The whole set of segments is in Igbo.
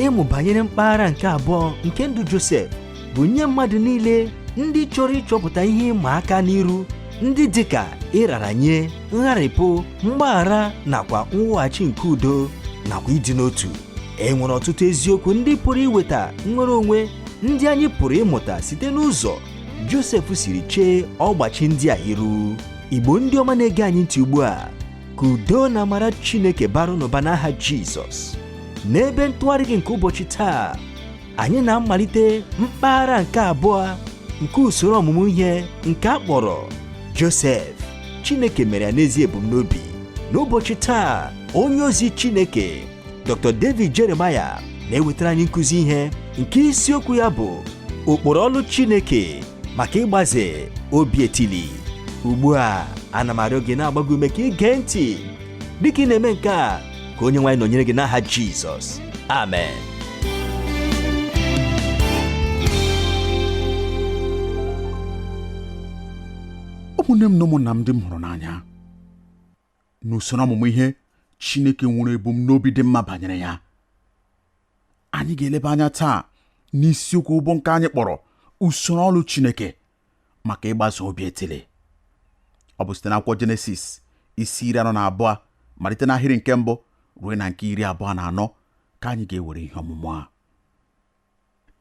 ịmụ banyere mpaghara nke abụọ nke ndụ Josef bụ nye mmadụ niile ndị chọrọ ịchọpụta ihe ịma aka n'iru ndị dịka ịrara nye ngharịpụ mgbaghara nakwa mweghachi nke udo nakwa ịdị n'otu e nwere ọtụtụ eziokwu ndị pụrụ iweta nnwere onwe ndị anyị pụrụ ịmụta site n'ụzọ Josef siri chee ọgbachi ndị a iru Igbo ndị ọma na-ege anyị ntị ugbu a ka udo na amara Chineke baara unu ụba n'aha Jizọs n'ebe ntụgharị gị nke ụbọchị taa anyị na-amalite mpaghara nke abụọ nke usoro ọmụmụ ihe nke a kpọrọ Josef Chineke mere ya n'ezi ebumnobi n'ụbọchị taa onye ozi Chineke Dr. David Jeremiah na-ewetara anyị nkụzi ihe nke isiokwu ya bụ ụkpụrụ ọlụ Chineke maka ịgbaze obi etili ugbu a ana m arịọ gị na-agba gị ume ka ị gee ntị dịka ị na-eme nke a ka onye nwe anyị nọnyere gị n'aha Jizọs amen ụmụnne m na ụmụnna m ndị m hụrụ n'anya n'usoro ọmụmụ ihe Chineke nwere ebumnobi dị mma banyere ya anyị ga-eleba anya taa n'isiokwu bụ nke anyị kpọrọ usoro ọlụ Chineke maka ịgbaze obi etili ọ bụ site n'akwụkwọ Jenesis isi iri anọ na abụọ malite n'ahịrị nke mbụ ruo na nke iri abụọ na anọ ka anyị ga-ewere ihe ọmụmụ a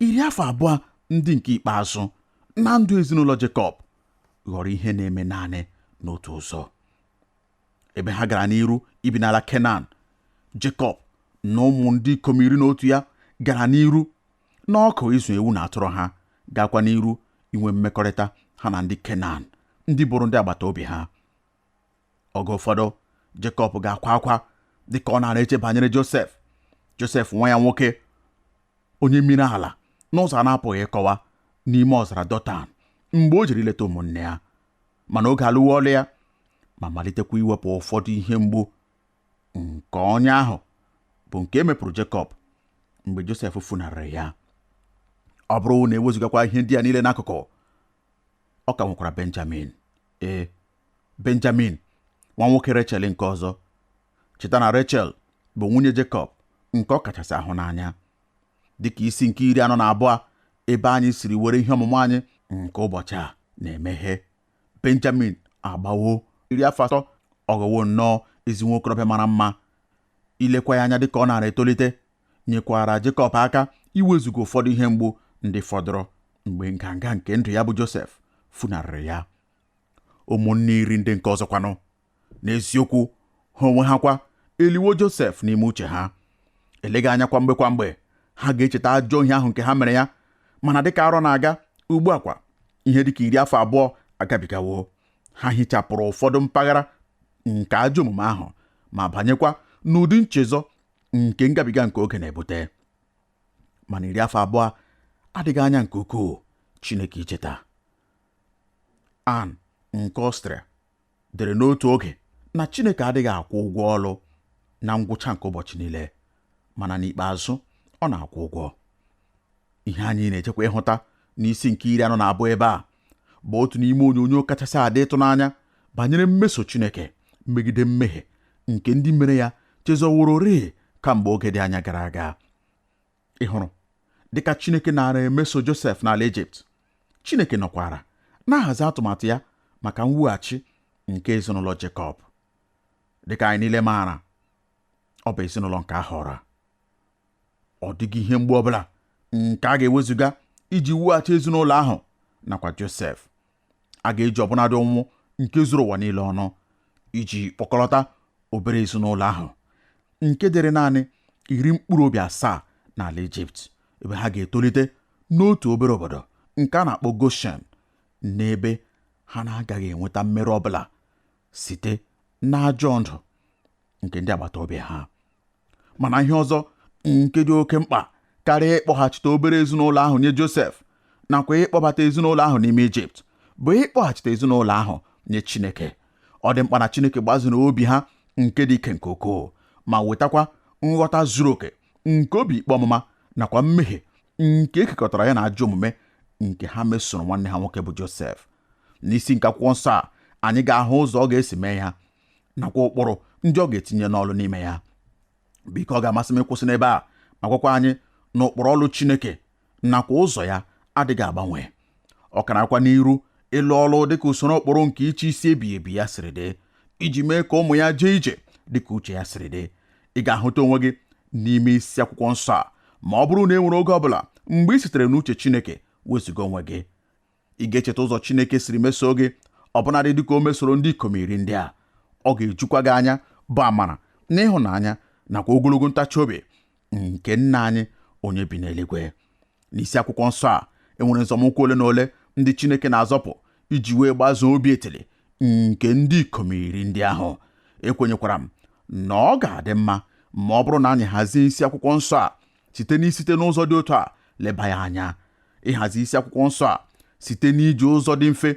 iri afọ abụọ ndị nke ikpeazụ na ndụ ezinụlọ Jekọb ghọrọ ihe na-eme naanị n'otu ụzọ ebe ha gara n'iru ibi n'ala Kenan Jekọb na ụmụ ndị ikom iri na otu ya gara n'iru n'ọkụ ịzụ ewu na atụrụ ha gaakwa n'iru inwe mmekọrịta ha na ndị Kenan ndị bụrụ ndị agbata obi ha oge ụfọdụ Jekọb ga-akwa akwa dịka ọ na-eche banyere Josef Josef nwa ya nwoke onye miri ala n'ụzọ a na-apụghị ịkọwa n'ime ọzara Dọtan mgbe o jere ileta ụmụnne ya mana oge alụwo ọlụ ya ma malitekwa iwepụ ụfọdụ ihe mgbu nke ọnya ahụ bụ nke e mepụrụ Jekọb mgbe Josef funarịrị ya ọ bụrụ na e wezụgakwa ihe ndị a niile n'akụkụ ọ ka nwekwara benjamin ee benjamin nwa nwoke rechel nke ọzọ cheta na rechel bụ nwunye jekọb nke ọ kachasị ahụ n'anya dịka isi nke iri anọ na abụọ ebe anyị siri were ihe ọmụmụ anyị nke ụbọchị a na-emeghe benjamin agbawo iri afọ atọ ọ ghọwo nnọọ ezi nwokorobịa mara mma ilekwa ya anya dịka ọ na-ara etolite nyekwaara Jekọb aka iwezuga ụfọdụ ihe mgbu ndị fọdụrụ mgbe nganga nke ndụ ya bụ Josef funarịrị ya ụmụnne iri ndị nke ọzọkwanụ n'eziokwu ha onwe ha kwa eliwo Josef n'ime uche ha eleghị anya kwa mgbe kwa mgbe ha ga-echeta ajọ ihe ahụ nke ha mere ya mana dịka arọ na-aga ugbu a kwa ihe dịka iri afọ abụọ agabigawo ha hichapụrụ ụfọdụ mpaghara nke ajọ omume ahụ ma banyekwa n'ụdị nchezọ nke ngabiga nke oge na-ebute mana iri afọ abụọ adịghị anya nke ukwuu Chineke icheta Ann nke Ọstrịa dere n'otu oge na Chineke adịghị akwụ ụgwọ ọlụ na ngwụcha nke ụbọchị niile mana n'ikpeazụ ọ na-akwụ ụgwọ ihe anyị na-echekwa ịhụta n'isi nke iri anọ na abụọ ebe a bụ otu n'ime onyonyo kachasị adị ịtụnanya banyere mmeso Chineke megide mmehie nke ndị mere ya chezọwororịị kamgbe oge dị anya gara aga ị hụrụ dịka Chineke naara emeso Josef n'ala Ijipt Chineke nọkwara na-ahazi atụmatụ ya maka mwughachi nke ezinụlọ Jekọb dịka anyị niile maara ọ bụ ezinụlọ nke a họrọ ọ dịghị ihe mgbu ọbụla nke a ga-ewezuga iji wughachi ezinụlọ ahụ nakwa Josef a ga-eji ọbụnadị ụnwụ nke zuru ụwa niile ọnụ iji kpọkọlọta obere ezinụlọ ahụ nke dịrị naanị iri mkpụrụ obi asaa n'ala Ijipt ebe ha ga-etolite n'otu obere obodo nke a na-akpọ Goshen n'ebe ha na-agaghị enweta mmerụ ọbụla site n'ajọ ndụ nke ndị agbata obi ha mana ihe ọzọ nke dị oke mkpa karịa ịkpọghachite obere ezinụlọ ahụ nye Josef nakwa ịkpọbata ezinụlọ ahụ n'ime Ijipt bụ ịkpọghachite ezinụlọ ahụ nye Chineke ọ dị mkpa na Chineke gbaziri obi ha nke dị ike nke ukwuu ma wetakwa nghọta zuru oke nke obi ikpe ọmụma nakwa mmehie nke e kekọtara ya na ajọ omume nke ha mesoro nwanne ha nwoke bụ Josef n'isi nke akwụkwọ nsọ a anyị ga-ahụ ụzọ ọ ga-esi mee ya nakwa ụkpụrụ ndị ọ ga-etinye n'ọlụ n'ime ya biko ọ ga-amasị m ịkwụsị n'ebe a ma gwakwa anyị na ụkpụrụ ọlụ Chineke nakwa ụzọ ya adịghị agbanwe ọ ka na-agakwa n'iru ịlụ ọlụ dịka usoro ụkpụrụ nke ịchị isi ebighị ebi ya siri dị iji mee ka ụmụ ya jee ije dịka uche ya siri dị ị ga-ahụta onwe gị n'ime isi akwụkwọ nsọ a ma ọ bụrụ na e nwere oge ọ bụla mgbe i sitere n'uche Chineke wezuga onwe gị ị ga-echeta ụzọ Chineke siri mesoo gị ọbụnadị dịka o mesoro ndị ikom iri ndị a ọ ga-ejukwa gị anya bụ amara na ịhụnanya nakwa ogologo ntachi obi nke nna anyị onye bi n'eluigwe n'isi akwụkwọ nsọ a enwere nzọmụkwụ ole na ole ndị Chineke na-azọpụ iji wee gbazoo obi etili nke ndị ikom iri ndị ahụ ekwenyekwara m na ọ ga-adị mma ma ọ bụrụ na anyị hazie isi akwụkwọ nsọ a site n'isite n'ụzọ dị otu a leba ya anya ịhazi isi akwụkwọ nsọ a site n'iji ụzọ dị mfe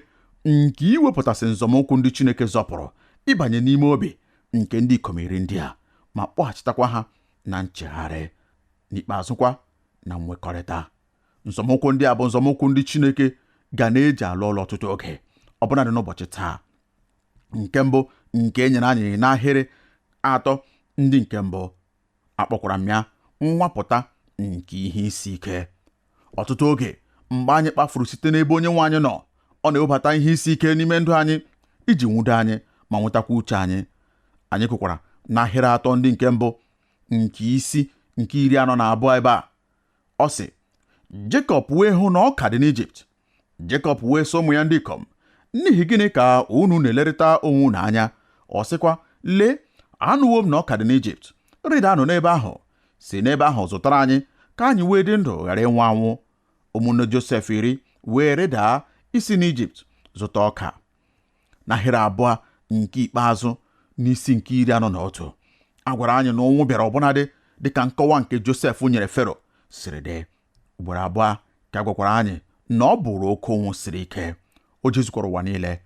nke iwepụtasị nzọmụkwụ ndị Chineke zọpụrụ ịbanye n'ime obi nke ndị ikom iri ndị a ma kpọghachitakwa ha na nchegharị n'ikpeazụkwa na nwekọrịta nzọmụkwụ ndị a bụ nzọmụkwụ ndị Chineke ka na-eji alụ ọlụ ọtụtụ oge ọbụnadị n'ụbọchị taa nke mbụ nke e nyere anyị n'ahịrị atọ ndị nke mbụ Akpọkwara m ya nnwapụta nke ihe isi ike. Ọtụtụ oge, mgbe anyị kpafuru site n'ebe Onyenwe anyị nọ, ọ na-ewebata ihe isi ike n'ime ndụ anyị iji nwudo anyị ma nwetakwa uche anyị. Anyị gụkwara n'ahịrị atọ ndị nke mbụ nke isi nke iri anọ na abụọ ebe a. Ọ sị, Jekọb wee hụ na ọka dị n'Ijipt, Jekọb wee sị ụmụ ya ndị ikom n'ihi gịnị ka unu na-elerịta onwe unu anya ọ sịkwa lee anụwo m na ọka dị n'Ijipt rịdanụ n'ebe ahụ si n'ebe ahụ zụtara anyị ka anyị wee dị ndụ ghara ịnwụ anwụ ụmụnne Josef iri wee rịdaa isi n'Ijipt zụta ọka n'ahịrị abụọ nke ikpeazụ n'isi nke iri anọ na otu a gwara anyị na ụnwụ bịara ọbụnadị dịka nkọwa nke Josef nyere Fero siri dị ugboro abụọ ka a gwakwara anyị na ọ bụrụ oke ụnwụ siri ike o jezukwara ụwa niile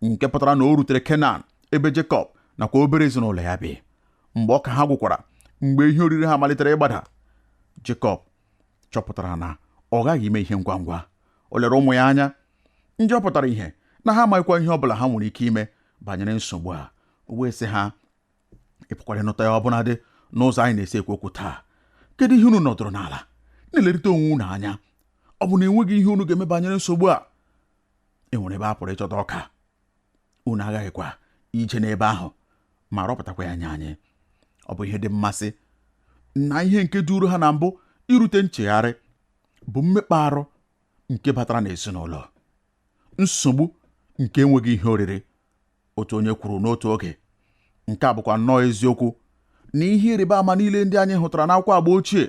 nke pụtara na o rutere kenan ebe jekọb nakwa obere ezinụlọ ya bi mgbe ọka ha gwụkwara mgbe ihe oriri ha malitere ịgbada jekọb chọpụtara na ọ ghaghị ime ihe ngwa ngwa o lere ụmụ ya anya ndị ọ pụtara ihe na ha amaghịkwa ihe ọ bụla ha nwere ike ime banyere nsogbu a o wee sị ha ị pụkwara ịnụta ya ọbụnadị n'ụzọ anyị na-esi ekwu okwu taa kedu ihe unu nọdụrụ n'ala na-elerịta onwe unu anya ọ bụ na enweghị ihe unu ga-eme banyere nsogbu a e nwere ebe a pụrụ ịchọta ọka unu aghaghịkwa ije n'ebe ahụ ma rọpụtakwa ya nye anyị ọ bụ ihe dị mmasị na ihe nke duru ha na mbụ irute nchegharị bụ mmekpa arụ nke batara n'ezinụlọ nsogbu nke enweghị ihe oriri otu onye kwuru n'otu oge nke a bụkwa nnọọ eziokwu na ihe ịrịba ama niile ndị anyị hụtara n'akwụkwọ agba ochie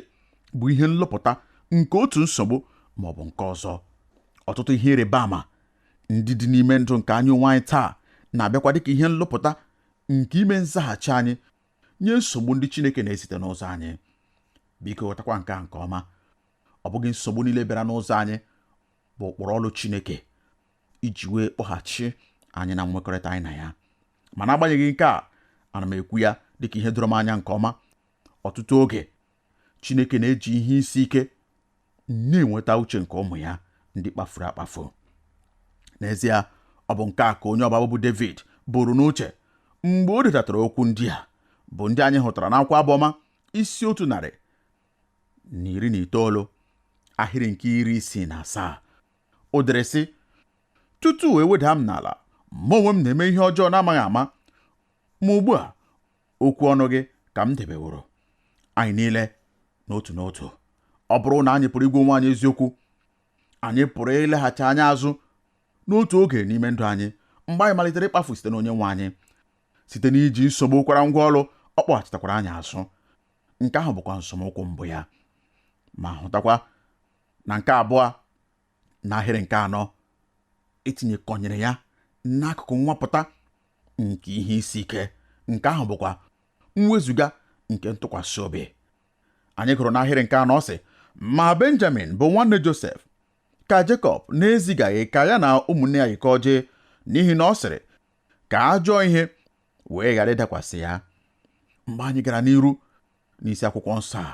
bụ ihe nlụpụta nke otu nsogbu ma ọ bụ nke ọzọ ọtụtụ ihe ịrịba ama ndị dị n'ime ndụ nke anyị onwe anyị taa na-abịakwa dịka ihe nlụpụta nke ime nzaghachi anyị nye nsogbu ndị Chineke na-ezite n'ụzọ anyị biko ghọtakwa nke a nke ọma ọ bụghị nsogbu niile bịara n'ụzọ anyị bụ ụkpụrụ ọlụ Chineke iji wee kpọghachi anyị na nwekọrịta anyị na ya ma n'agbanyeghị nke a ana m ekwu ya dịka ihe doro m anya nke ọma ọtụtụ oge Chineke na-eji ihe isi ike na-enweta uche nke ụmụ ya ndị kpafuru akpafu n'ezie ọ bụ nke a ka onye ọbụ abụ bụ David buru n'uche mgbe o detatara okwu ndị a bụ ndị anyị hụtara n'akwụkwọ abụ ọma isi otu narị na iri na itoolu ahịrị nke iri isii na asaa O dere sị tutu e weda m n'ala mụ onwe m na-eme ihe ọjọọ na-amaghị ama ma ugbu a okwu ọnụ gị ka m debeworo anyị niile n'otu n'otu ọ bụrụ na anyị pụrụ ịgwa onwe anyị eziokwu anyị pụrụ ileghachi anya azụ n'otu oge n'ime ndụ anyị mgbe anyị malitere ịkpafu site n'onye nwe anyị site n'iji nsogbu kwara ngwa ọlụ ọ kpọghachitakwara anyị azụ nke ahụ bụkwa nzọmụkwụ mbụ ya ma hụtakwa na nke abụọ n'ahịrị nke anọ e tinyekọnyere ya n'akụkụ nwapụta nke ihe isi ike nke ahụ bụkwa mwezuga nke ntụkwasị obi anyị gụrụ n'ahịrị nke anọ sị ma benjamin bụ nwanne josef ka jekọb na-ezigaghị ka ya na ụmụnne ya yikọọ jee n'ihi na ọ sịrị ka ajọ ihe wee ghara ịdakwasị ya mgbe anyị gara n'iru n'isi akwụkwọ nsọ a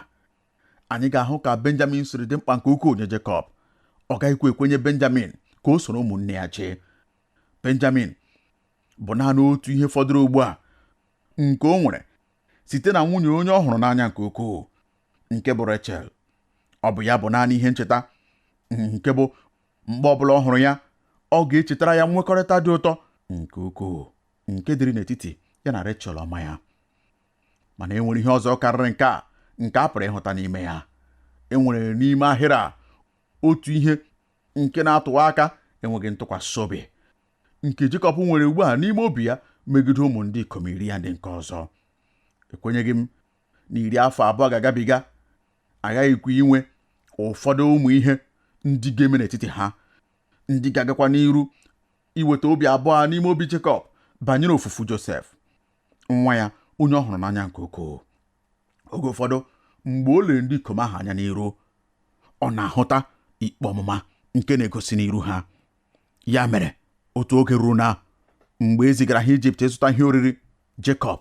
anyị ga-ahụ ka benjamin siri dị mkpa nke ukwuu nye jekọb ọ gaghịkwa ekwenye benjamin ka o soro ụmụnne ya jee benjamin bụ naanị otu ihe fọdụrụ ugbu a nke o nwere site na nwunye onye ọ hụrụ n'anya nke ukwuu nke bụ rachel ọ bụ ya bụ naanị ihe ncheta nke bụ mgbe ọbụla ọ hụrụ ya ọ ga-echetara ya nwekọrịta dị ụtọ nke ukwuu nke dịrị n'etiti ya na rachel ọma ya mana e nwere ihe ọzọ karịrị nke a nke a pụrụ ịhụta n'ime ya e nwere n'ime ahịrị a otu ihe nke na-atụwa aka enweghị ntụkwasị obi nke Jekọb nwere ugbu a n'ime obi ya megide ụmụ ndị ikom iri ya ndị nke ọzọ ekwenyeghị m na iri afọ abụọ ga-agabiga aghaghịkwa inwe ụfọdụ ụmụ ihe ndị ga-eme n'etiti ha ndị ga-agakwa n'iru iweta obi abụọ n'ime obi Jekọb banyere ofufu Josef nwa ya onye ọ hụrụ n'anya nke ukwuu oge ụfọdụ mgbe o lere ndị ikom ahụ anya n'iru ọ na-ahụta ikpe ọmụma nke na-egosi n'iru ha ya mere otu oge ruo na mgbe e zigara ha ijipt ịzụta ihe oriri jekọb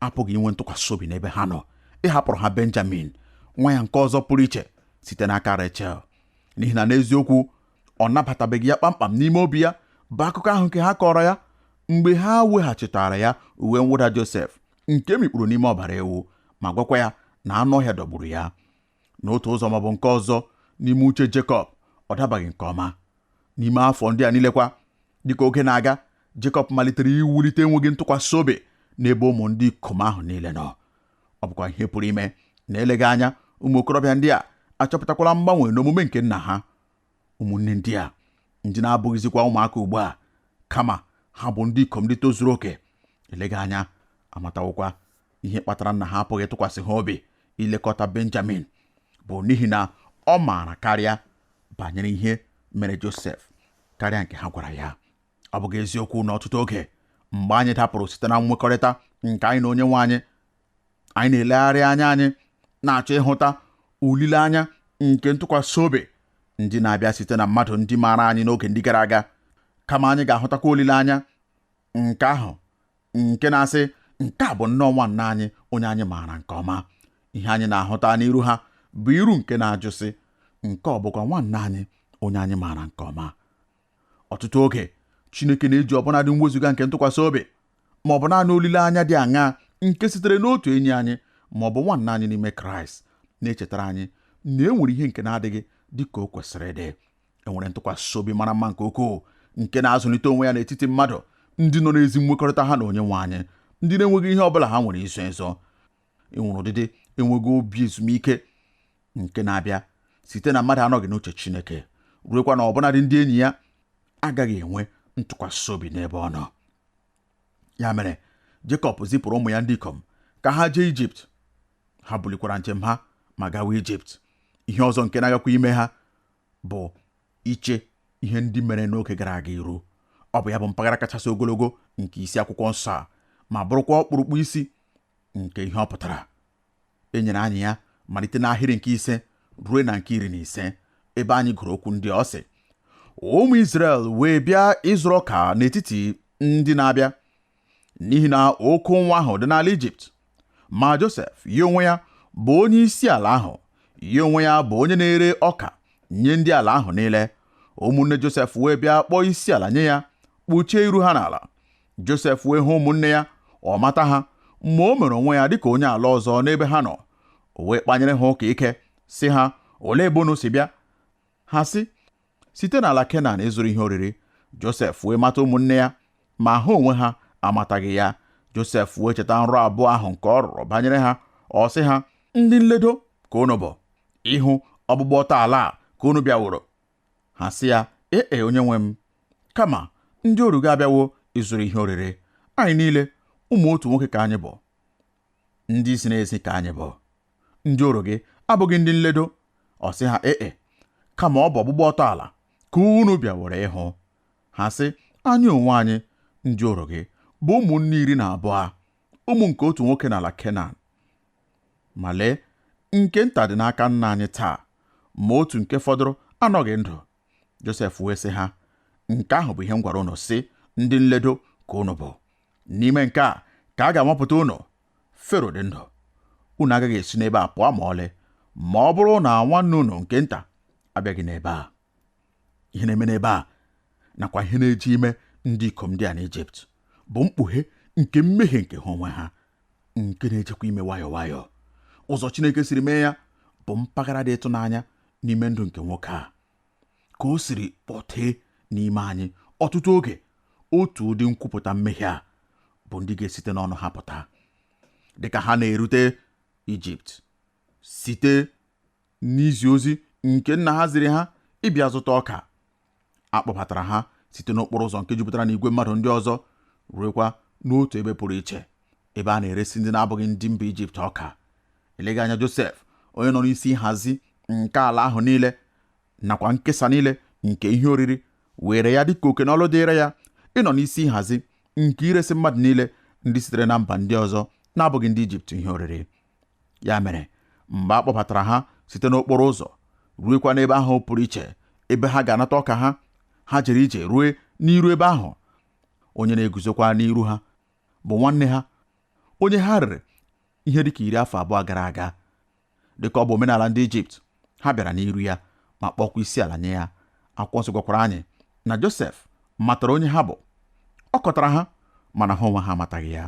apụghị inwe ntụkwasị obi n'ebe ha nọ ịhapụrụ ha benjamin nwa ya nke ọzọ pụrụ iche site n'aka rechel n'ihi na n'eziokwu ọ nabatabeghị ya kpamkpam n'ime obi ya bụ akụkọ ahụ nke ha kọrọ ya mgbe ha weghachitara ya uwe mwụda Josef nke e mikpuru n'ime ọbara ewu ma gwakwa ya na anụ ọhịa dọgburu ya n'otu ụzọ ma ọ bụ nke ọzọ n'ime uche Jekọb ọ dabaghị nke ọma n'ime afọ ndị a niilekwa dịka oge na-aga Jekọb malitere iwulite enweghị ntụkwasị obi n'ebe ụmụ ndị ikom ahụ niile nọ ọ bụkwa ihe pụrụ ime na eleghị anya ụmụ okorobịa ndị a achọpụtakwala mgbanwe n'omume nke nna ha ụmụnne ndị a ndị na-abụghịzikwa ụmụaka ugbu a kama ha bụ ndị ikom ndị tozuru oke eleghị anya amatawokwa ihe kpatara nna ha apụghị ịtụkwasị ha obi ilekọta benjamin bụ n'ihi na ọ maara karịa banyere ihe mere josef karịa nke ha gwara ya ọ bụghị eziokwu na ọtụtụ oge mgbe anyị dapụrụ site na nwekọrịta nke anyị na onye nwe anyị anyị na-elegharị anya anyị na-achọ ịhụta olileanya nke ntụkwasị obi ndị na-abịa site na mmadụ ndị maara anyị n'oge ndị gara aga kama anyị ga-ahụtakwa olileanya nke ahụ nke na-asị nke a bụ nnọọ nwanna anyị onye anyị maara nke ọma ihe anyị na-ahụta n'iru ha bụ iru nke na-ajụ sị nke ọ bụkwa nwanna anyị onye anyị maara nke ọma Ọtụtụ oge, Chineke na-eji ọbụnadị mwezuga nke ntụkwasị obi ma ọ bụ naanị olileanya dị aṅaa nke sitere n'otu enyi anyị ma ọ bụ nwanna anyị n'ime Kraịst na-echetara anyị na e nwere ihe nke na-adịghị dị ka o kwesịrị ịdị. E nwere ntụkwasị obi mara mma nke ukwuu nke na-azụlite onwe ya n'etiti mmadụ ndị nọ n'ezi nwekọrịta ha na onye nwe anyị, ndị na-enweghị ihe ọ bụla ha nwere izo ezo. e nwere ụdịdị enweghị obi ezumike nke na-abịa site na mmadụ anọghị n'uche Chineke ruekwa na ọbụnadị ndị enyi ya agaghị enwe ntụkwasị obi n'ebe ọ nọ ya mere Jekọb zipụrụ ụmụ ya ndị ikom ka ha jee Ijipt ha bulikwara njem ha ma gawa Ijipt ihe ọzọ nke na-agakwa ime ha bụ iche ihe ndị mere n'oge gara aga iru ọ bụ ya bụ mpaghara kachasị ogologo nke isi akwụkwọ nsọ a ma bụrụkwa ọkpụrụkpụ isi nke ihe ọ pụtara e nyere anyị ya malite n'ahịrị nke ise ruo na nke iri na ise ebe anyị gụrụ okwu ndị a ọ sị ụmụ Izrel wee bịa ịzụrụ ọka n'etiti ndị na-abịa n'ihi na oke ụnwụ ahụ dị n'ala Ijipt ma Josef ya onwe ya bụ onye isi ala ahụ ya onwe ya bụ onye na-ere ọka nye ndị ala ahụ niile ụmụnne Josef wee bịa kpọọ isi ala nye ya kpuchie iru ha n'ala Josef wee hụ ụmụnne ya ọ mata ha ma o mere onwe ya dịka onye ala ọzọ n'ebe ha nọ o wee kpanyere ha ụka ike sị ha olee ebe unu si bịa ha sị site n'ala Kenan ịzụrụ ihe oriri Josef wee mata ụmụnne ya ma ha onwe ha amataghị ya Josef wee cheta nrọ abụọ ahụ nke ọ rọrọ banyere ha ọ sị ha ndị nledo ka unu bụ ịhụ ọgbụgba ọtọ ala a ka unu bịaworo ha sị ya ee e, onye nwe m kama ndị oru gị abịawo ịzụrụ ihe oriri anyị niile ụmụ otu nwoke ka anyị bụ ndị ziri ezi ka anyị bụ ndị oru gị abụghị ndị nledo ọ sị ha ee e, kama ọ bụ ọgbụgba ọtọ ala ka unu bịaworo ịhụ ha sị anyị onwe anyị ndị oru gị bụ ụmụnne iri na abụọ ụmụ nke otu nwoke n'ala Kenan ma lee nke nta dị n'aka nna anyị taa ma otu nke fọdụrụ anọghị ndụ Josef wee sị ha nke ahụ bụ ihe m gwara unu sị ndị nledo ka unu bụ n'ime nke a ka a ga-anwapụta unu Fero dị ndụ unu agaghị esi n'ebe a pụọ ma ọlị ma ọ bụrụ na nwanne unu nke nta abịaghị n'ebe a ihe na-eme n'ebe a nakwa ihe na-eje ime ndị ikom ndị a n'Ijipt bụ mkpughe nke mmehie nke ha onwe ha nke na-ejekwa ime nwayọọ nwayọọ ụzọ Chineke siri mee ya bụ mpaghara dị ịtụnanya n'ime ndụ nke nwoke a ka o siri kpọtee n'ime anyị ọtụtụ oge otu ụdị nkwupụta mmehie a bụ ndị ga-esite n'ọnụ ha pụta dịka ha na-erute Ijipt site n'izi ozi nke nna ha ziri ha ịbịa zụta ọka. A kpọbatara ha site n'okporo ụzọ nke jupụtara n'igwe mmadụ ndị ọzọ ruekwa n'otu ebe pụrụ iche ebe a na-eresi ndị na-abụghị ndị mba Ijipt ọka. Eleghị anya Josef, onye nọ n'isi nhazi nke ala ahụ niile nakwa nkesa niile nke ihe oriri, weere ya dị ka oke na ọlụ dịịrị ya ịnọ n'isi nhazi nke iresi mmadụ niile ndị sitere na mba ndị ọzọ na-abụghị ndị Ijipt ihe oriri. ya mere mgbe a kpọbatara ha site n'okporo ụzọ ruekwa n'ebe ahụ pụrụ iche ebe ha ga-anata ọka ha ha jere ije rue n'iru ebe ahụ onye na-eguzokwa n'iru ha bụ nwanne ha onye ha rere ihe dịka iri afọ abụọ gara aga dịka ọ bụ omenala ndị ijipt ha bịara n'iru ya ma kpọọkwa isi ala nye ya akwụkwọ nsọ gwakwara anyị na josef matara onye ha bụ ọ kọtara ha mana ha onwe ha amataghị ya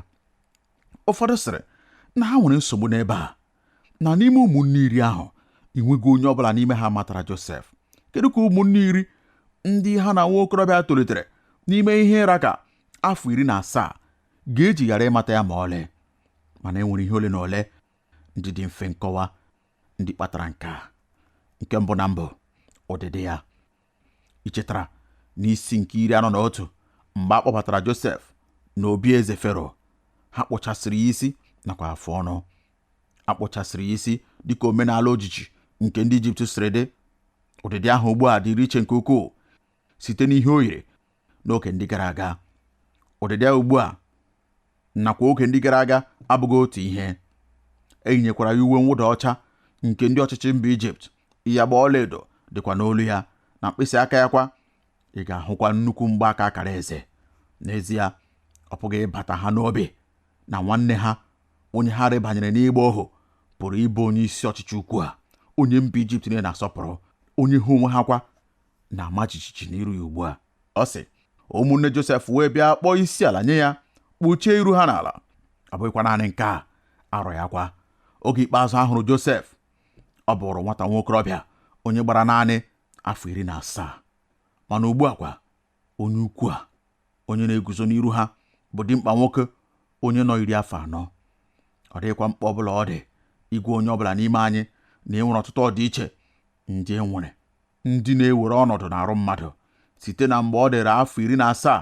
ụfọdụ sịrị na ha nwere nsogbu n'ebe a na n'ime ụmụnne iri ahụ enweghị onye ọbụla n'ime ha matara Josef kedu ka ụmụnne iri ndị ha na nwa okorobịa tolitere n'ime ihe ra ka afọ iri na asaa ga-eji ghara ịmata ya ma ọlị mana e nwere ihe ole na ole ndị dị mfe nkọwa ndị kpatara nke a nke mbụ na mbụ ọdịdị ya Ichetara n'isi nke iri anọ na otu mgbe a kpọbatara Josef n'obi eze Fero, ha kpụchasịrị ya isi nakwa afụ ọnụ. A kpụchasịrị ya isi dịka omenala ojiji nke ndị Ijipt siri dị. Ụdịdị ahụ ugbu a dịrị iche nke ukwuu site n'ihe o yiri n'oge ndị gara aga ụdịdị ya ugbu a nakwa oge ndị gara aga abụghị otu ihe e yinyekwara ya uwe mwụda ọcha nke ndị ọchịchị mba ijipt ịyagba ọlaedo dịkwa n'olu ya na mkpịsị aka ya kwa ị ga-ahụkwa nnukwu mgbaaka akara eze n'ezie ọ pụghị ịbata ha n'obi na nwanne ha onye ha rebanyere n'ịgba ohu pụrụ ịbụ onye isi ọchịchị ukwu a onye mba ijipt niile na-asọpụrụ onye ha onwe ha kwa na-ama jijiji n'iru ya ugbu a ọ sị ụmụnne Josef wee bịa kpọọ isi ala nye ya kpuchie iru ha n'ala ọ bụghịkwa naanị nke a arọ ya kwa oge ikpeazụ a hụrụ Josef ọ bụrụ nwata nwa okorobịa onye gbara naanị afọ iri na asaa mana ugbu a kwa onye ukwu a onye na-eguzo n'iru ha bụ dimkpa nwoke onye nọ iri afọ anọ ọ dịghịkwa mkpa ọbụla ọ dị ịgwa onye ọbụla n'ime anyị na e nwere ọtụtụ ọdịiche ndị e nwere ndị na-ewere ọnọdụ n'arụ mmadụ site na mgbe ọ dịrị afọ iri na asaa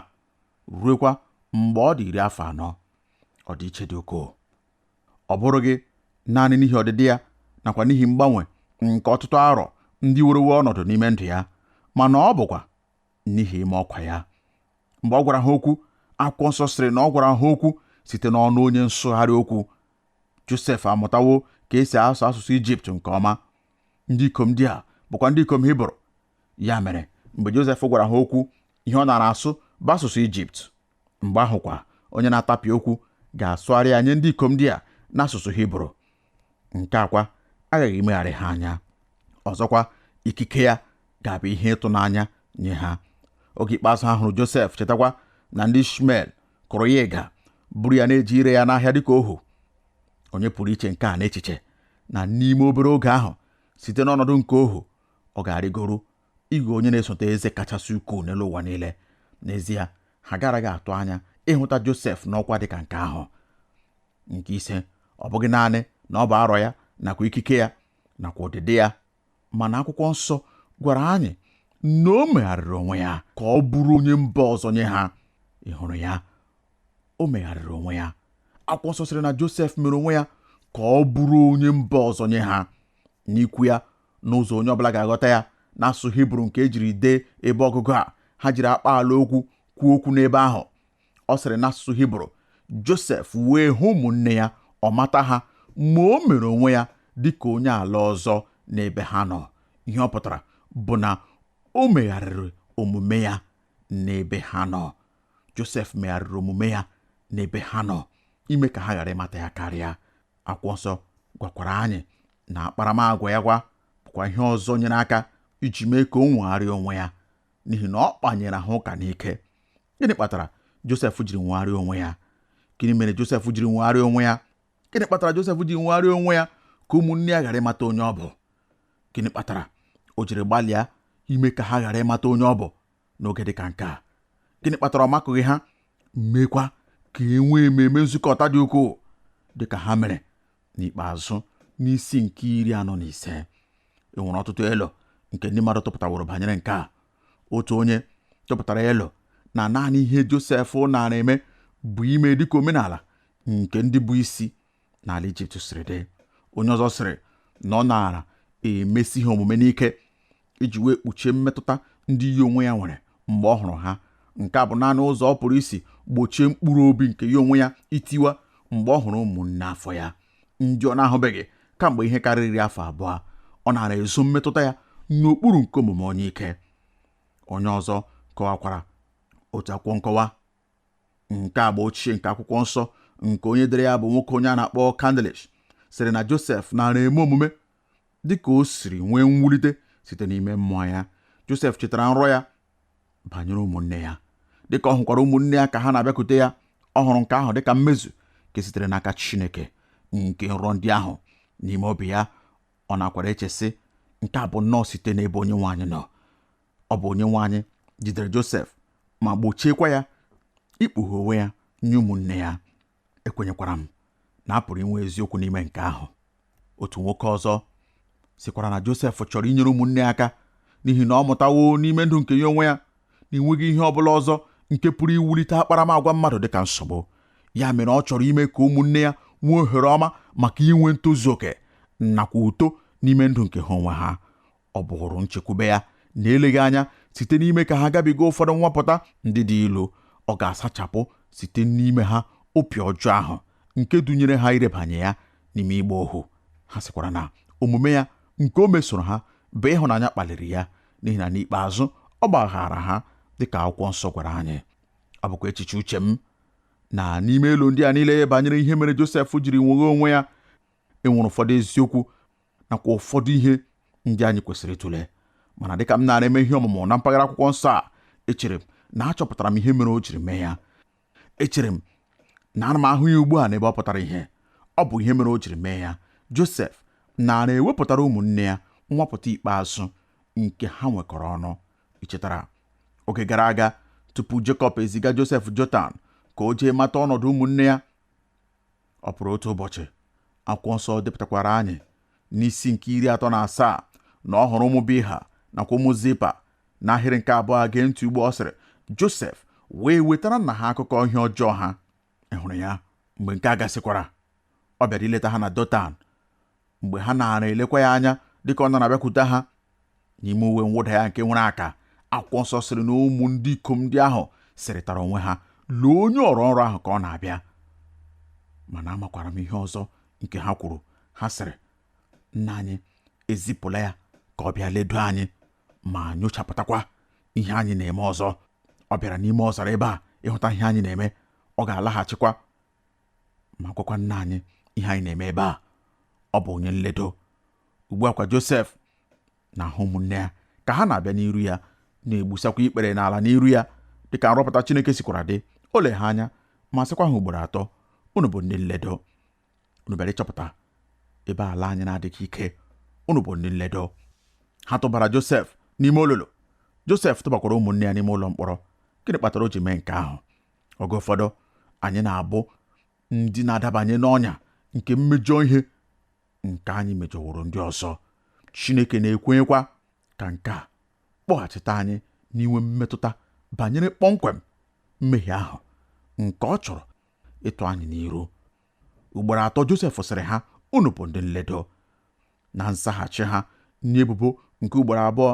ruekwa mgbe ọ dị iri afọ anọ ọdịiche dị ukwuu ọ bụrụghị naanị n'ihi ọdịdị ya nakwa n'ihi mgbanwe nke ọtụtụ arọ ndị werewo ọnọdụ n'ime ndụ ya mana ọ bụkwa n'ihi ime ọkwa ya mgbe ọ gwara ha okwu akwụkwọ nsọ sịrị na ọ gwara ha okwu site n'ọnụ onye nsụgharị okwu Josef amụtawo ka e si asụ asụsụ Ijipt nke ọma ndị ikom ndị a bụkwa ndị ikom Hibru ya mere mgbe Josef gwara ha okwu ihe ọ nara asụ bụ asụsụ Ijipt mgbe ahụkwa onye na-atapịa okwu ga-asụgharị ya nye ndị ikom ndị a n'asụsụ Hibru nke a kwa aghaghị imegharị ha anya ọzọkwa ikike ya ga-abụ ihe ịtụnanya nye ha oge ikpeazụ ha hụrụ Josef chetakwa na ndị Ishmel kụrụ ya ịga buru ya na-eje ire ya n'ahịa dịka ohu onye pụrụ iche nke a n'echiche na n'ime obere oge ahụ site n'ọnọdụ nke ohu ọ ga-arịgoru ịghọ onye na-esote eze kachasị ukwuu n'elu ụwa niile n'ezie ha garaghị atụ anya ịhụta Josef n'ọkwa dị ka nke ahụ nke ise ọ bụghị naanị na ọ bụ arọ ya nakwa ikike ya nakwa ụdịdị ya mana akwụkwọ nsọ gwara anyị na o megharịrị onwe ya ka ọ bụrụ onye mba ọzọ nye ha ị hụrụ ya o megharịrị onwe ya akwụkwọ nsọ sịrị na Josef mere onwe ya ka ọ bụrụ onye mba ọzọ nye ha n'ikwu ya n'ụzọ onye ọbụla ga-aghọta ya n'asụsụ hibru nke e jiri dee ebe ọgụgụ a ha jiri akpa ala okwu kwuo okwu n'ebe ahụ ọ sịrị n'asụsụ hibru josef wee hụ ụmụnne ya ọ mata ha ma o mere onwe ya dị ka onye ala ọzọ n'ebe ha nọ ihe ọ pụtara bụ na o megharịrị omume ya n'ebe ha nọ josef megharịrị omume ya n'ebe ha nọ ime ka ha ghara ịmata ya karịa Akwụkwọ nsọ gwakwara anyị na akparamagwa ya kwa bụkwa ihe ọzọ nyere aka iji mee ka o nwegharịa onwe ya n'ihi na ọ kpanyere ha ụka n'ike. Gịnị kpatara Josef jiri nwegharịa onwe ya? Gịnị mere Josef jiri nwegharịa onwe ya? Gịnị kpatara Josef ji nwegharịa onwe ya ka ụmụnne ya ghara ịmata onye ọ bụ? Gịnị kpatara o jiri gbalịa ime ka ha ghara ịmata onye ọ bụ? n'oge dị ka nke a gịnị kpatara ọ makụghị ha meekwa ka e nwee ememe nzukọta dị ukwuu dị ka ha mere n'ikpeazụ n'isi nke iri anọ na ise e nwere ọtụtụ elo nke ndị mmadụ tụpụtaworo banyere nke a otu onye tụpụtara elo na naanị ihe Josef naara eme bụ ime dịka omenala nke ndị bụ isi n'ala ijipt siri dị onye ọzọ sịrị na ọ naara emesi ha omume n'ike iji wee kpuchie mmetụta ndị ya onwe ya nwere mgbe ọ hụrụ ha nke a bụ naanị ụzọ ọ pụrụ isi gbochie mkpụrụ obi nke ya onwe ya itiwa mgbe ọ hụrụ ụmụnne afọ ya ndị ọ na-ahụbeghị kamgbe ihe karịrị afọ abụọ ọ naara ezo mmetụta ya n'okpuru nke omume onye ike onye ọzọ kọwakwara otu akwụkwọ nkọwa nke agba ochie nke akwụkwọ nsọ nke onye dere ya bụ nwoke onye a na-akpọ Candlish sịrị na Josef nara eme omume dị ka o siri nwee mwulite site n'ime mmụọ ya Josef chetara nrọ ya banyere ụmụnne ya dịka ọ hụkwara ụmụnne ya ka ha na-abịakwute ya ọ hụrụ nke ahụ dịka mmezu nke sitere n'aka Chineke nke nrọ ndị ahụ n'ime obi ya ọ nakwara eche sị nke a bụ nnọọ site n'ebe onye nwe anyị nọ ọ bụ onye nwe anyị jidere Josef ma gbochiekwa ya ikpughe onwe ya nye ụmụnne ya ekwenyekwara m na a pụrụ inwe eziokwu n'ime nke ahụ otu nwoke ọzọ sịkwara na Josef chọrọ inyere ụmụnne aka n'ihi na ọ mụtawo n'ime ndụ nke ya onwe ya na enweghị ihe ọ bụla ọzọ nke pụrụ iwulite akparamagwa mmadụ dịka nsogbu ya mere ọ chọrọ ime ka ụmụnne ya nwee ohere ọma maka inwe ntozu oke nakwa uto n'ime ndụ nke ha onwe ha ọ bụrụ nchekwube ya na eleghị anya site n'ime ka ha gabiga ụfọdụ nwapụta ndị dị ilu ọ ga-asachapụ site n'ime ha obi ọjọọ ahụ nke dunyere ha irebanye ya n'ime ịgba ohu ha sịkwara na omume ya nke o mesoro ha bụ ịhụnanya kpaliri ya n'ihi na n'ikpeazụ ọ gbaghaara ha dịka akwụkwọ nsọ gwara anyị ọ bụkwa echiche uche m na n'ime elo ndị a niile banyere ihe mere Josef jiri nweghaa onwe ya enwere ụfọdụ eziokwu nakwa ụfọdụ ihe ndị anyị kwesịrị ịtụle mana dịka m naara eme ihe ọmụmụ na mpaghara akwụkwọ nsọ a echere m na achọpụtara m ihe mere o jiri mee ya echere m na ana m ahụ ya ugbu a n'ebe ọ pụtara ihe ọ bụ ihe mere o jiri mee ya Josef nara ewepụtara ụmụnne ya nwapụta ikpeazụ nke ha nwekọrọ ọnụ i chetara oge gara aga tupu Jekọb eziga Josef Dotan ka o jee mata ọnọdụ ụmụnne ya Ọ pụrụ otu ụbọchị, akwụkwọ nsọ depụtakwaara anyị n'isi nke iri atọ na asaa na ọ hụrụ ụmụ Bilha nakwa ụmụ Zilpa n'ahịrị nke abụọ gee ntị ugbu a ọ sịrị Josef wee wetara nna ha akụkọ ihe ọjọọ ha ị hụrụ ya mgbe nke a gasịkwara ọ bịara ileta ha na Dotan mgbe ha naara elekwa ya anya dịka ọ nara abịakwute ha n'ime uwe mwụda ya nke nwere aka akwụkwọ nsọ sịrị na ụmụ ndị ikom ndị ahụ sịrịtara onwe ha lee onye ọrọ nrọ ahụ ka ọ na-abịa mana amakwara m ihe ọzọ nke ha kwuru ha sịrị nna anyị ezipụla ya ka ọ bịa ledo anyị ma nyochapụtakwa ihe anyị na-eme ọzọ ọ bịara n'ime ọzara ebe a ịhụta ihe anyị na-eme ọ ga-alaghachikwa ma gwakwa nna anyị ihe anyị na-eme ebe a ọ bụ onye nledo ugbu a kwa Josef na-ahụ ụmụnne ya ka ha na-abịa n'iru ya na-egbusakwa ikpere n'ala n'iru ya dịka nrọpụta Chineke sikwara dị o lee ha anya ma sịkwa ha ugboro atọ unu bụ ndị nledo unu bịara ịchọpụta ebe ala anyị na-adịghị ike unu bụ ndị nledo ha tụbara Josef n'ime olulu Josef tụbakwara ụmụnne ya n'ime ụlọ mkpọrọ gịnị kpatara o ji mee nke ahụ oge ụfọdụ anyị na-abụ ndị na-adabanye n'ọnya nke mmejọ ihe nke anyị mejọworo ndị ọzọ Chineke na-ekwenyekwa ka nke a kpọghachite anyị n'inwe mmetụta banyere kpọmkwem mmehie ahụ nke ọ chọrọ ịtụ anyị n'iru ugboro atọ Josef sịrị ha unu bụ ndị nledo Na nzaghachi ha nye ebubo nke ugboro abụọ,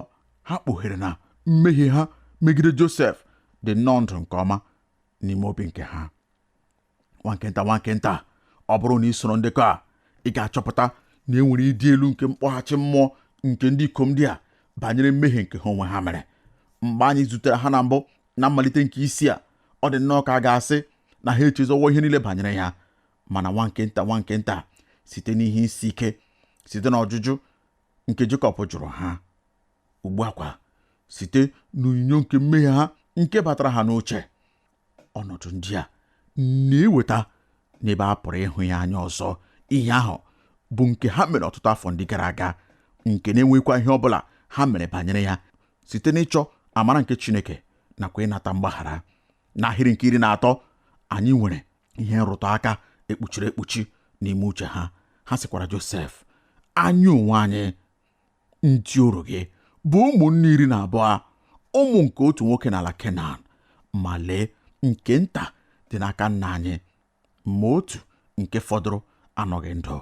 ha kpughere na mmehie ha megide Josef dị nnọọ ndụ nke ọma n'ime obi nke ha. Nwa nke nta, nwa nke nta, ọ bụrụ na i soro ndekọ a, ị ga-achọpụta na e nwere ịdị elu nke mkpọghachi mmụọ nke ndị ikom ndị a banyere mmehie nke ha onwe ha mere. Mgbe anyị zutere ha na mbụ na mmalite nke isi a, ọ dị nnọọ ka a ga-asị na ha echezọwo ihe niile banyere ya. mana nwa nke nta nwa nke nta site n'ihe isi ike site n'ọjụjụ nke Jekọb jụrụ ha ugbu a kwa site n'onyinyo nke mmehie ha nke batara ha n'uche ọnọdụ ndị a na-eweta n'ebe a pụrụ ịhụ ya anya ọzọ ihe ahụ bụ nke ha mere ọtụtụ afọ ndị gara aga nke na-enwekwa ihe ọ bụla ha mere banyere ya site n'ịchọ amara nke Chineke nakwa ịnata mgbaghara n'ahịrị nke iri na atọ anyị nwere ihe nrụtụ aka ekpuchiri ekpuchi n'ime uche ha ha sịkwara Josef anyị onwe anyị ndị oru gị bụ ụmụnne iri na abụọ ụmụ nke otu nwoke n'ala Kenan ma lee nke nta dị n'aka nna anyị ma otu nke fọdụrụ anọghị ndụ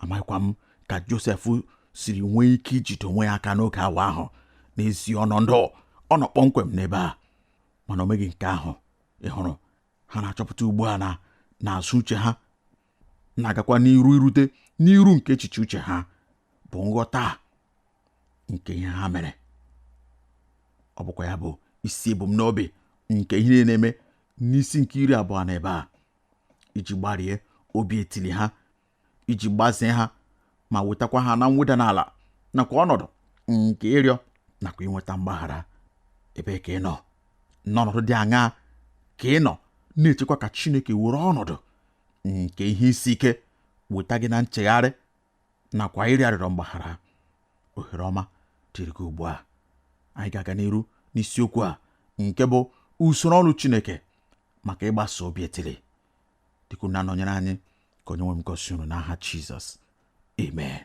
amaghịkwa m ka Josef siri nwee ike ijide onwe ya aka n'oge awa ahụ n'ezi ọnọdụ ọ nọ kpọmkwem n'ebe a mana o meghị nke ahụ ị hụrụ ha na-achọpụta ugbu a na n'azụ uche ha na-agakwa n'iru irute n'iru nke echiche uche ha bụ nghọta nke ihe ha mere ọ bụkwa ya bụ isi ebumnobi nke ihe na-eme n'isi nke iri abụọ n'ebe a iji gbarie obi etili ha iji gbazee ha ma wetakwa ha na mweda n'ala nakwa ọnọdụ nke ịrịọ nakwa inweta mgbaghara ebe ka ị nọ n'ọnọdụ dị aṅaa ka ị nọ na-echekwa ka Chineke were ọnọdụ nke ihe isi ike weta gị na nchegharị nakwa ịrịọ arịrịọ mgbaghara ohere ọma dịrị gị ugbu a anyị ga-aga n'iru n'isiokwu a nke bụ usoro ọrụ Chineke maka ịgbaze obi etili dịka unu na-anọnyere anyị ka onye nwe m gọzie unu n'aha Jizọs amen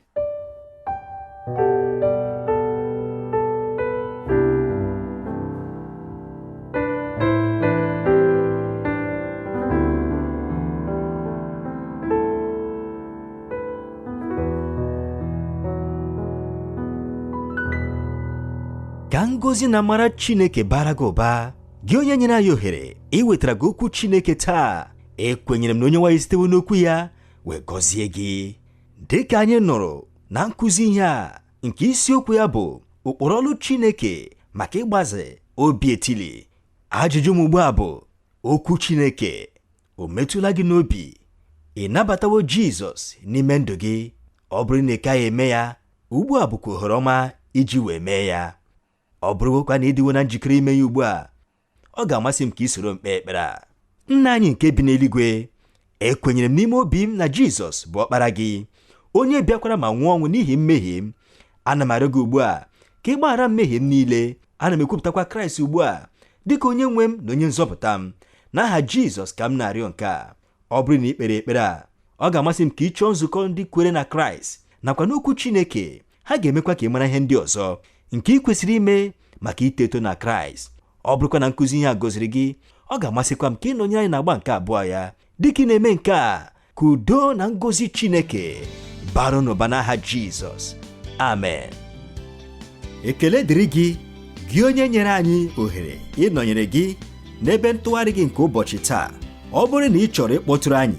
ka ngọzi na amara Chineke bara gị ụba gị onye nyere anyị ohere iwetara gị okwu chineke taa ekwenyere m na onye nwe anyị sitewo n'okwu ya wee gọzie gị dị ka anyị nụrụ na nkụzi ihe a nke isiokwu ya bụ ụkpụrụ ọrụ chineke maka ịgbaze obi etili ajụjụ m ugbu a bụ okwu chineke o metụla gị n'obi ị nabatawo jizọs n'ime ndụ gị ọ bụrụ na ị kaghị eme ya ugbu a bụkwa ohere ọma iji wee mee ya Ọ bụrụkwa na ị dịwo na njikere ime ya ugbu a, ọ ga-amasị m ka i soro m kpee ekpere a. Nna anyị nke bi n'eluigwe, ekwenyere m n'ime obi m na Jizọs bụ ọkpara gị, onye bịakwara ma nwụọ ọnwụ n'ihi mmehie m. Ana m arịọ gị ugbu a ka ị gbaghara mmehie m niile. Ana m ekwupụtakwa Kraịst ugbu a dị ka onye nwe m na onye nzọpụta m. N'aha Jizọs ka m na-arịọ nke a. Ọ bụrụ na i kpere ekpere a, ọ ga-amasị m ka ị chọọ nzukọ ndị kwere na Kraịst nakwa n'Okwu Chineke ha ga-emekwa ka ị mara ihe ndị ọzọ nke ị kwesịrị ime maka ito eto na kraịst ọ bụrụkwa na nkụzi ihe a gọziri gị ọ ga-amasịkwa m ka ị nọnyere anyị n'agba nke abụọ ya dịka ị na-eme nke a ka udo na ngọzi chineke bara n'ụba n'aha jizọs amen ekele dịrị gị gị onye nyere anyị ohere ịnọnyere gị n'ebe ntụgharị gị nke ụbọchị taa ọ bụrụ na ị chọrọ ịkpọtụrụ anyị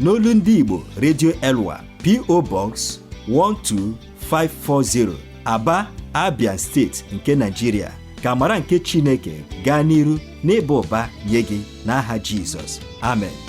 n'olu ndị Igbo Radio Elwa PO Box 12540 Aba Abia steeti nke Nigeria ka amara nke Chineke gaa n'iru n'ịba ụba nye gị n'aha Jizọs amen